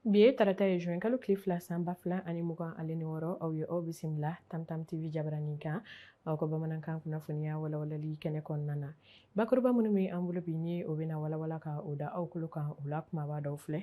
bi ye tarata ye juin kalo tile fila san ba fila ani mugan ale ni wɔɔrɔ aw ye aw bisimila tamtam tv jabaranin kan aw ka bamanankan kunnafoniya walawalali kɛnɛ kɔnɔna na bakuruba minnu bɛ an bolo bi ni o bɛna walawala ka o da aw kulo kan o la kumaba dɔw filɛ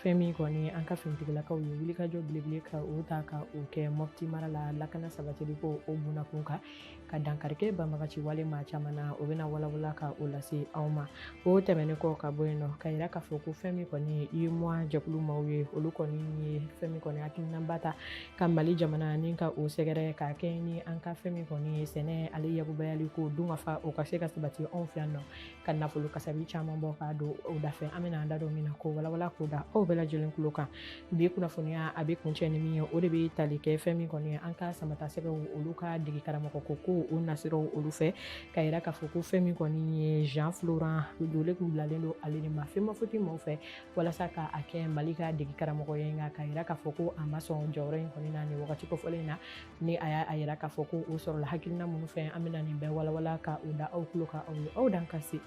fɛn min kɔni an ka finitigilakaw ye wulikajɔ belebele ka o ta ka o kɛ mɔpti mara la lakana sabatili ko o bunakun kan ka dankarikɛ banbagaci wale maa caman na o bɛna walawala ka o lase aw ma o tɛmɛnen kɔ ka bɔ yen nɔ ka yira k'a fɔ ko fɛn min kɔni uemoa jɛkulu maaw ye olu kɔni ye fɛn min kɔni hakilinaba ta ka mali jamana ni ka o sɛgɛrɛ ka kɛ ni an ka fɛn min kɔni ye sɛnɛ ale yakubayali ko dunkafa o ka se ka sabati anw fɛ yan nɔ ka nafolo kasabi caman bɔ k'a don o dafɛ an bɛna an da don min na k'o walawala k'o da aw bɛɛ lajɛlen kulo kan bi kunnafoniya a bɛ kuncɛ ni min ye o de bɛ tali kɛ fɛn min kɔni ye an ka samatasɛgɛw olu ka dege karamɔgɔ ko ko o nasiraw olu fɛ ka yira k'a fɔ ko fɛn min kɔni ye jean florent jole kun bilalen don ale de ma femafoot maaw fɛ walasa ka a kɛ mali ka degi karamɔgɔ ye nka k'a yira k'a fɔ ko a ma sɔn jɔyɔrɔ in kɔni na nin wagati kofɔlen na ni a y'a yira k'a fɔ ko o sɔrɔla hakilina minnu fɛ an bɛna nin bɛɛ walawala ka o da aw kulo kan aw ye aw dan ka se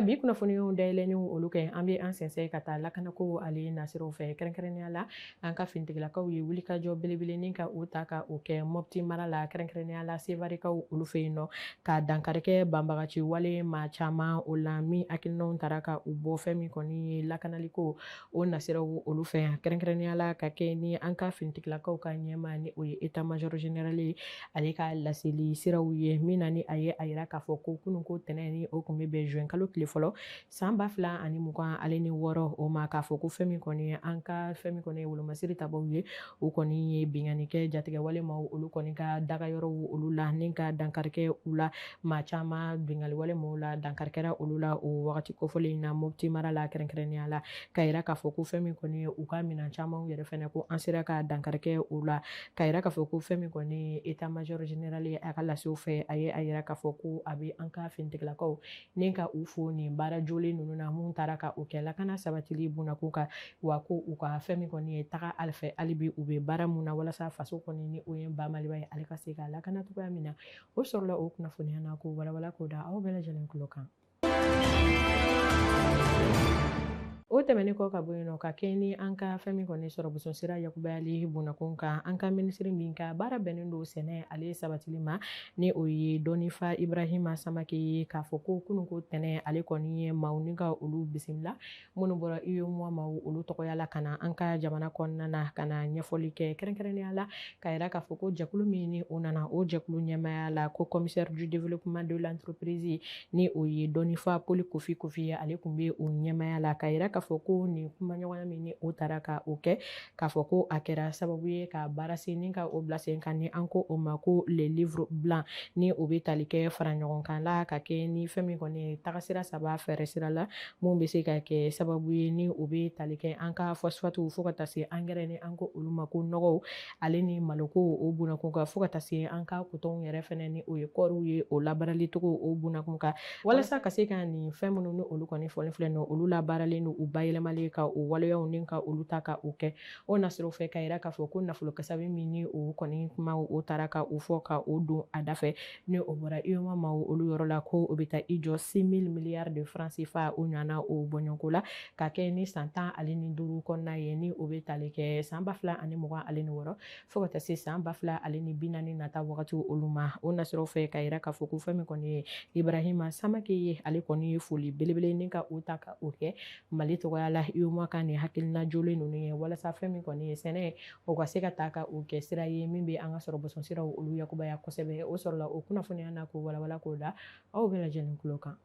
bi kunnafoniw dayɛlɛniw olu kɛ an bɛ an sɛnsɛn ka taa lakanako ale nasiraw fɛ kɛrɛnkɛrɛnnenya la an ka fintigilakaw ye wulikajɔ belebele ni ka o ta ka o kɛ mɔpti mara la kɛrɛnkɛrɛnya la sevarikaw olu fɛ yen nɔ ka dankarikɛ banbagaci wale maa caman o la min hakilinaw taara ka u bɔ fɛn min kɔni ye lakanaliko o nasiraw olu fɛ yan kɛrɛnkɛrɛnya la ka kɛ ni an ka fintigilakaw ka ɲɛmaa ni o ye état major général ale ka laseli siraw ye min na ni a ye a yira k'a fɔ ko kunun ko tɛnɛn ni o kun bɛ bɛn juin kalo tile fɔlɔ San ba fila ani mugan ale ni wɔɔrɔ o ma k'a fɔ ko fɛn min kɔni ye an ka fɛn min kɔni ye wolomasiri tabaw ye o kɔni ye binkanni kɛ jatigɛwale maa olu kɔni ka dagayɔrɔ olu la ni ka dankarikɛ u la maa caman binkanniwale maa la dankarikɛra olu la o wagati kofɔlen in na mɔpti mara la kɛrɛnkɛrɛnya la ka jira k'a fɔ ko fɛn min kɔni ye u ka minɛn caman yɛrɛ fana ko an sera ka dankarikɛ u la ka jira k'a fɔ ko fɛn min kɔni état major général ye a ka lasew fɛ a ye a jira k'a fɔ ko a bɛ an ka fintigilakaw ni ka u fo nin baara jolen ninnu na mun taara ka o kɛ lakana sabatili bunakun kan wa ko u ka fɛn min kɔni ye taga ale fɛ hali bi u bɛ baara mun na walasa faso kɔni ni o ye ba maliba ye ale ka se ka lakana cogoya min na o sɔrɔla o kunnafoniya na k'o walawala k'o da aw bɛɛ lajɛlen kulo kan o tɛmɛnen kɔ ka bɔ yen nɔ ka kɛɲɛ ni an ka fɛn min kɔni sɔrɔ boson sira yakubayali bunakun kan an ka minisiri min ka baara bɛnnen don sɛnɛ ale sabatili ma ni o ye dɔnnifa ibarahima samake ye k'a fɔ ko kunun ko tɛnɛn ale kɔni ye maaw ni ka olu bisimila minnu bɔra UEMOA maaw olu tɔgɔya la ka na an ka jamana kɔnɔna na ka na ɲɛfɔli kɛ kɛrɛnkɛrɛnnenya la ka yira k'a fɔ ko jɛkulu min ni o nana o jɛkulu ɲɛmaya la ko commissaire du développement de l'entreprise ni o ye dɔnnifa poli kofi kofi ye ale kun bɛ o ɲɛmaya la ka yira k'a fɔ ko nin kumaɲɔgɔnya min ni o tara ka o kɛ k'a fɔ ko a kɛra sababu ye ka baara sen ni ka o bila sen kan ni an ko o ma ko le livre blanc ni o bɛ tali kɛ fara ɲɔgɔn kan la ka kɛ ni fɛn min kɔni ye tagasira saba fɛɛrɛ sira la mun bɛ se ka kɛ sababu ye ni o bɛ tali kɛ an ka phosphate fo ka taa se engrais ni an ko olu ma ko nɔgɔw ale ni maloko o bunakun kan fo ka taa se an ka coton yɛrɛ fɛnɛ ni o ye kɔɔriw ye o labaarali cogo o bunakun kan walasa ka se ka nin fɛn minnu ni olu kɔni fɔlen filɛ nɔ olu labaaralen don u bayɛlɛmalen ka o waleyaw ni ka olu ta ka o kɛ o nasiraw fɛ ka yira k'a fɔ ko nafolo kasabi min ni o kɔni kuma o tara ka o fɔ ka o don a da fɛ ni o bɔra UEMOA maaw olu yɔrɔ la ko o bɛ taa i jɔ six mille milliards de francs CFA o ɲɔgɔnna o bɔɲɔgɔnko la ka kɛ ni san tan ale ni duuru kɔnɔna ye ni o bɛ tali kɛ san ba fila ani mugan ale ni wɔɔrɔ fo ka taa se san ba fila ale ni bi naani nata wagati olu ma o nasiraw fɛ ka yira k'a fɔ ko fɛn min kɔni ye ibrahima samake ye ale kɔni ye foli belebele ni ka o ta ka o kɛ mali tɔgɔya la UEMOA ka nin hakilina jolen ninnu ye walasa fɛn min kɔni ye sɛnɛ o ka se ka taa ka o kɛ sira ye min bɛ an ka sɔrɔ bɔsɔnsiraw olu yakubaya kosɛbɛ o sɔrɔla o kunnafoniya na k'o walawala k'o da aw bɛɛ lajɛlen tulo kan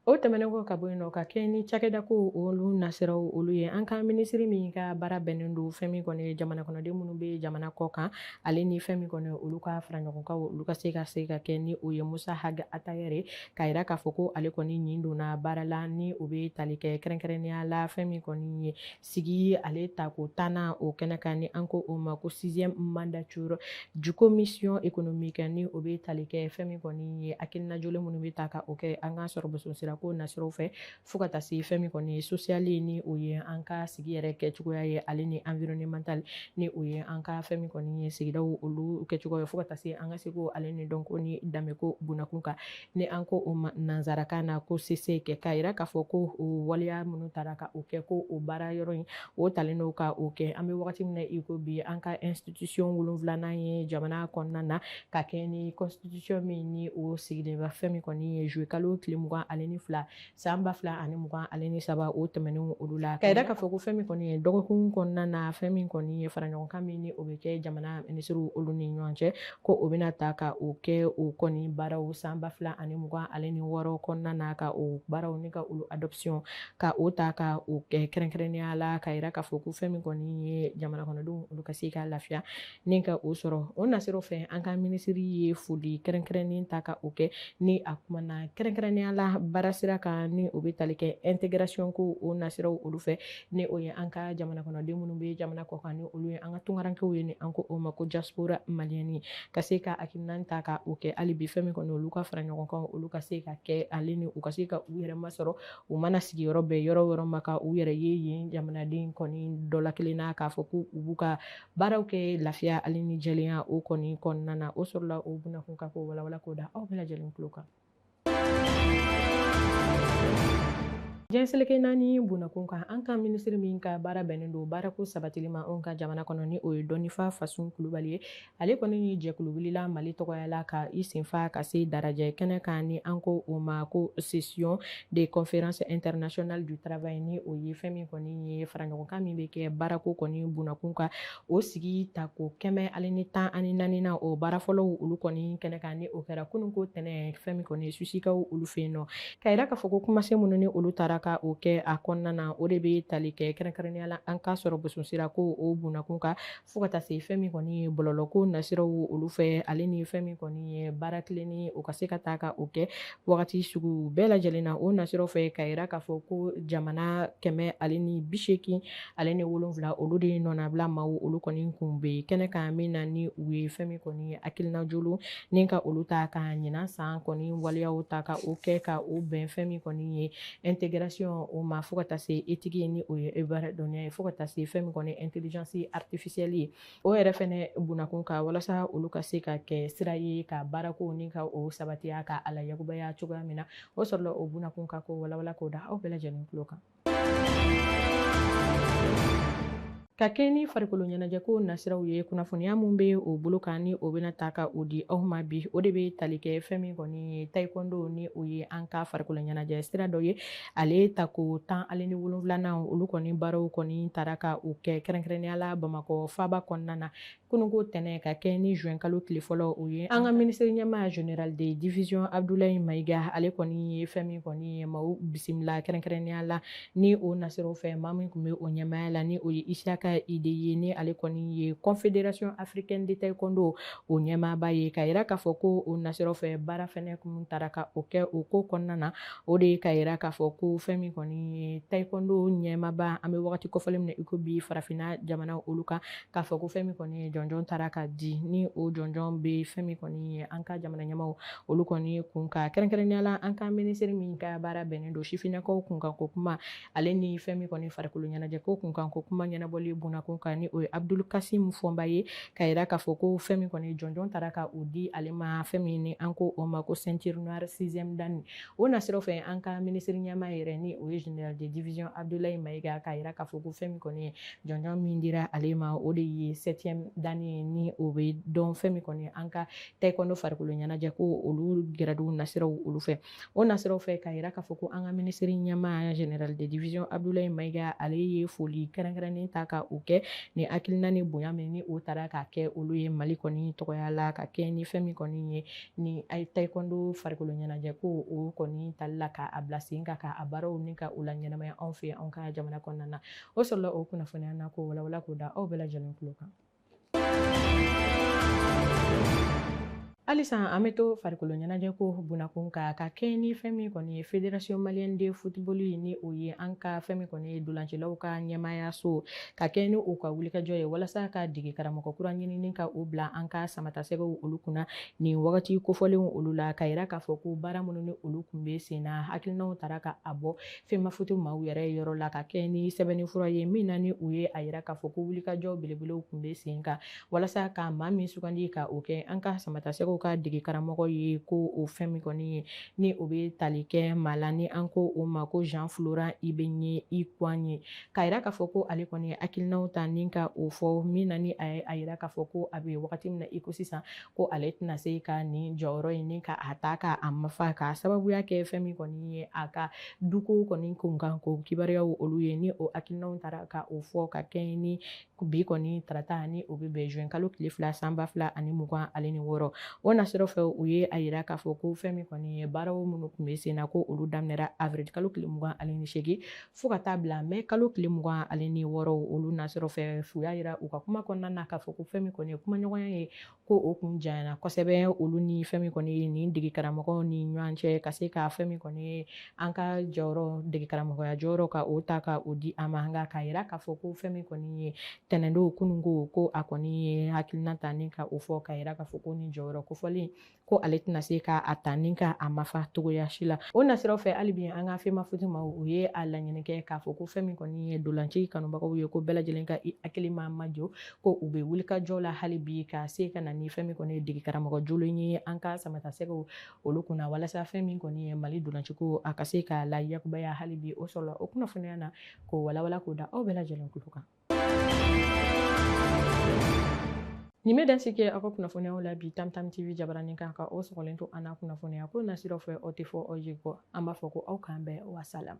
O tɛmɛnen kɔ ka bɔ yen nɔ ka kɛ ni cakɛda ko olu nasiraw olu ye an ka minisiri min ka baara bɛnnen don fɛn min kɔni ye jamana kɔnɔden minnu bɛ jamana kɔ kan ale ni fɛn min kɔni ye olu ka faraɲɔgɔnkan olu ka se ka se ka kɛ ni o ye musa ag attaher ka yira k'a fɔ ko ale kɔni nin donna baara la ni o bɛ tali kɛ kɛrɛnkɛrɛnnenya la fɛn min kɔni ye sigi ale tako tannan o kɛnɛ kan ni an ko o ma ko sixième mandature du commission économique ni o bɛ tali kɛ fɛn min kɔni ye hakilina jolen minnu bɛ ta ka o kɛ an ka sɔrɔ bosonsirako nasiraw fɛ fo ka taa se fɛn min kɔni ye social ni o ye an ka sigi yɛrɛ kɛcogoya ye ale ni environnemental ni o ye an ka fɛn min kɔni ye sigidaw olu kɛcogoya ye fo ka taa se an ka seko ale ni dɔnko ni danbeko bunakun kan ni an ko o ma nansarakan na ko CESEC ka yira k'a fɔ ko o waleya minnu tara ka o kɛ ko o baara yɔrɔ in o talen don ka o kɛ an bɛ wagati min na i ko bi an ka institution wolonfilanan ye jamana kɔnɔna na ka kɛɲɛ ni constitution min ni o sigilen bɛ fɛn min kɔni ye juillet kalo tile mugan ale ni fila san ba fila ani mugan ale ni saba o tɛmɛnen olu la ka yira k'a fɔ ko fɛn min kɔni ye dɔgɔkun kɔnɔna na fɛn min kɔni ye faraɲɔgɔnkan min ni o bɛ kɛ jamana minisiriw olu ni ɲɔgɔn cɛ ko o bɛna ta ka o kɛ o kɔni baaraw san ba fila ani mugan ale ni wɔɔrɔ kɔnɔna na ka o baaraw ni ka olu adoption ka o ta ka o kɛ kɛrɛnkɛrɛnnenya la ka yira k'a fɔ ko fɛn min kɔni ye jamana kɔnɔdenw olu ka se ka lafiya ni ka o sɔrɔ o nasiraw fɛ an ka minisiri ye foli kɛrɛnkɛrɛnnen ta ka o kɛ ni a kumana kɛrɛnkɛrɛnnenya la baarasira kan ni o bɛ tali kɛ intégration ko o nasiraw olu fɛ ni o ye an ka jamana kɔnɔden minnu bɛ jamana kɔ kan ni olu ye an ka tunkarankew ye ni an ko o ma ko diaspora malienne ka se ka hakilina ta ka o kɛ hali bi fɛn min kɔni olu ka fara ɲɔgɔn kan olu ka se ka kɛ ale ni u ka se ka u yɛrɛ masɔrɔ u mana sigi yɔrɔ bɛɛ yɔrɔ yɔrɔ ma ka u yɛrɛ ye yen jamanaden kɔni dɔ la kelen na k'a fɔ ko u b'u ka baaraw kɛ lafiya ale ni jɛlenya o kɔni kɔnɔna na o sɔrɔla o bunakun kan k'o walawala k'o da aw bɛɛ lajɛlen tulo kan jɛn seleke naani bunakun kan an ka minisiri min ka baara bɛnnen don baarako sabatili ma anw ka jamana kɔnɔ ni o ye dɔnnifa fasun kulubali ye ale kɔni ni jɛkulu wulila mali tɔgɔya la ka i senfa ka se darajɛ kɛnɛ kan ni an ko o ma ko session de conférence internationale du travail ni o ye fɛn min kɔni ye faraɲɔgɔnkan min bɛ kɛ baarako kɔni bunakun kan o sigi tako kɛmɛ ale ni tan ani naaninan o baara fɔlɔw olu kɔni kɛnɛ kan ni o kɛra kununko tɛnɛ fɛn min kɔni susikaw olu fɛ yen nɔ ka yira k'a fɔ ko kumasen minnu ni olu taara ka o kɛ a kɔnɔna na o de bɛ tali kɛ kɛrɛnkɛrɛnnenya la an ka sɔrɔ boso sira ko o bunakun kan fo ka taa se fɛn min kɔni ye bɔlɔlɔko nasiraw olu fɛ ale ni fɛn min kɔni ye baara tilenni o ka se ka taa ka o kɛ wagati sugu bɛɛ lajɛlen na o nasiraw fɛ ka yira k'a fɔ ko jamana kɛmɛ ale ni bi seegin ale ni wolonwula olu de nɔnabila maaw olu kɔni kun bɛ kɛnɛ kan min na ni u ye fɛn min kɔni ye hakilina jolo ni ka olu ta ka ɲinan san kɔni waleyaw ta ka o kɛ ka o bɛn fɛn min kɔni ye intégration o ma fo ka taa se éthique ye ni o ye e baara dɔnniya ye fo ka taa se fɛn min kɔni intelligence artificielle ye o yɛrɛ fɛnɛ bunakun kan walasa olu ka se ka kɛ sira ye ka baarako ni ka o sabatiya ka a layakubaya cogoya min na o sɔrɔla o bunakun kan k'o walawala k'o da aw bɛɛ lajɛlen tulo kan ka kɛ ni farikolo ɲɛnajɛko nasiraw ye kunnafoniya min bɛ o bolo kan ni o bɛna ta ka o di aw ma bi o de bɛ tali kɛ fɛn min kɔni ye taekwondo ni o ye an ka farikolo ɲɛnajɛ sira dɔ ye ale tako tan ale ni wolonwulanan olu kɔni baaraw kɔni taara ka o kɛ kɛrɛnkɛrɛnnenya la bamakɔ faaba kɔnɔna na kununko tɛnɛ ka kɛ ni juin kalo tile fɔlɔ o ye an ka minisiri ɲɛmaa général de division abudulayi mayiga ale kɔni ye fɛn min kɔni ye maaw bisimila kɛrɛnkɛrɛnnenya la ni o nasiraw fɛ maa min tun bɛ o ɲɛmaaya la ni o ye isaka ide ye ni ale kɔni ye confédération africaine de taekwondo o ɲɛmaaba ye ka yira k'a fɔ ko o nasiraw fɛ baara fɛnɛ kun taara ka o kɛ o ko kɔnɔna na o de ka yira k'a fɔ ko fɛn min kɔni ye taekwondo ɲɛmaaba an bɛ waati kofɔlen min na iko bi farafinna jamana olu kan k'a fɔ ko fɛn min kɔni ye jɔnjɔn taara ka di ni o jɔnjɔn bɛ fɛn min kɔni ye an ka jamana ɲɛmaaw olu kɔni ye kun ka kɛrɛnkɛrɛnnenya la an ka minisiri min ka baara bɛnnen don sifinnakaw kunkanko kuma ale ni fɛn min kɔni farikolo ɲɛnajɛ ko kunkanko kuma ɲɛnabɔli bunakun kan ni o ye abudul kasim fɔnba ye ka yira k'a fɔ ko fɛn min kɔni jɔnjɔn taara ka o di ale ma fɛn min ni an ko o ma ko ceinture noire sixième dan o nasiraw fɛ an ka minisiri ɲɛmaa yɛrɛ ni o ye général de division abudulayi mayiga ka yira k'a fɔ ko fɛn min kɔni ye jɔnjɔn min dira ale ma o de ye septième dan ni ye ni o bɛ dɔn fɛn min kɔni an ka taekwondo farikolo ɲɛnajɛ ko olu grade nasiraw olu fɛ o nasiraw fɛ k'a yira k'a fɔ ko an ka minisiri ɲɛmaa général de division abdulayi mayiga ale ye foli kɛrɛnkɛrɛnnen ta ka o kɛ ni hakilina ni bonya min ni o taara k'a kɛ olu ye mali kɔni tɔgɔya la ka kɛ ni fɛn min kɔni ye ni taekwondo farikolo ɲɛnajɛ ko o kɔni tali la k'a bila sen kan k'a baaraw ni ka o la ɲɛnamaya anw fɛ anw ka jamana kɔnɔna na o sɔrɔla o kunnafoniya na k'o walawala k'o da aw bɛɛ lajɛlen tulo kan halisa an bɛ to farikolo ɲɛnajɛ ko bunakun kan ka kɛ ni fɛn min kɔni ye fédération malienne de football ye ni o ye an ka fɛn min kɔni ye dolancilaw ka ɲɛmaayaso ka kɛ ni u ka wulikajɔ ye walasa ka dege karamɔgɔ kura ɲinini ka o bila an ka samatasɛgɛw olu kunna nin wagati kofɔlenw olu la ka yira k'a fɔ ko baara minnu ni olu kun bɛ sen na hakilinaw tara ka a bɔ femafoot maaw yɛrɛ yɔrɔ la ka kɛ ni sɛbɛnni fura ye min na ni u ye a yira k'a fɔ ko wulikajɔ belebelew kun bɛ sen kan walasa ka maa min sugandi ka o kɛ an ka samatasɛgɛw ka dege karamɔgɔ ye ko o fɛn min kɔni ye ni o bɛ tali kɛ maa la ni an ko o ma ko jean florent ibenge ikwange k'a yira k'a fɔ ko ale kɔni ye hakilinaw ta ni ka o fɔ min na ni a ye a yira k'a fɔ ko a bɛ wagati min na i ko sisan ko ale tɛna se ka nin jɔyɔrɔ in ni ka a ta ka a mafa ka sababuya kɛ fɛn min kɔni ye a ka duko kɔni kunkan ko kibaruyaw olu ye ni o hakilinaw taara ka o fɔ ka kɛ ni bi kɔni tarata ni o bɛ bɛn juin kalo tile fila san ba fila ani mugan ani ni wɔɔrɔ o nasiraw fɛ u ye a yira k'a fɔ ko fɛn min kɔni ye baaraw minnu kun bɛ sen na ko olu daminɛra avril kalo tile mugan ani ni seegin fo ka taa bila mɛ kalo tile mugan ani ni wɔɔrɔ olu nasiraw fɛ u y'a yira u ka kuma kɔnɔna na k'a fɔ ko fɛn min kɔni ye kumaɲɔgɔnya ye ko o kun janyana kosɛbɛ olu ni fɛn min kɔni ye nin dege karamɔgɔw ni ɲɔgɔn cɛ ka se ka fɛn min kɔni ye an ka jɔyɔrɔ dege karamɔgɔya jɔyɔrɔ ka o ta ka o di a ma nka k'a yira k'a fɔ ko fɛn min kɔni ye tɛnɛndon kunun ko ko a kɔni ye hakilina ta ni ka o fɔ ka yira k'a fɔ ko nin jɔyɔrɔ kofɔlen ko ale tɛna se ka a ta ni ka a mafa cogoya si la o nasiraw fɛ hali bi an ka femafoot maaw ye a laɲini kɛ k'a fɔ ko fɛn min kɔni ye dolanci kanubagaw ye ko bɛɛ lajɛlen ka i hakili ma majɔ ko u bɛ wulikajɔ la hali bi ka se ka na ni fɛn min kɔni ye dege karamɔgɔ jɔlen ye an ka samatasɛgɛw olu kunna walasa fɛn min kɔni ye mali dolanciko a ka se ka la yakubaya hali bi o sɔrɔla o kunnafoniya na k'o walawala k'o da aw bɛɛ lajɛlen kulo kan nin bɛ dansigi kɛ aw ka kunnafoniyaw la bi tamtam tv jabaranin kan ka aw sɔgɔlen to an na kunnafoniya ko nasiraw fɛ aw tɛ fɔ aw ye kɔ an b'a fɔ ko aw k'an bɛn wasalam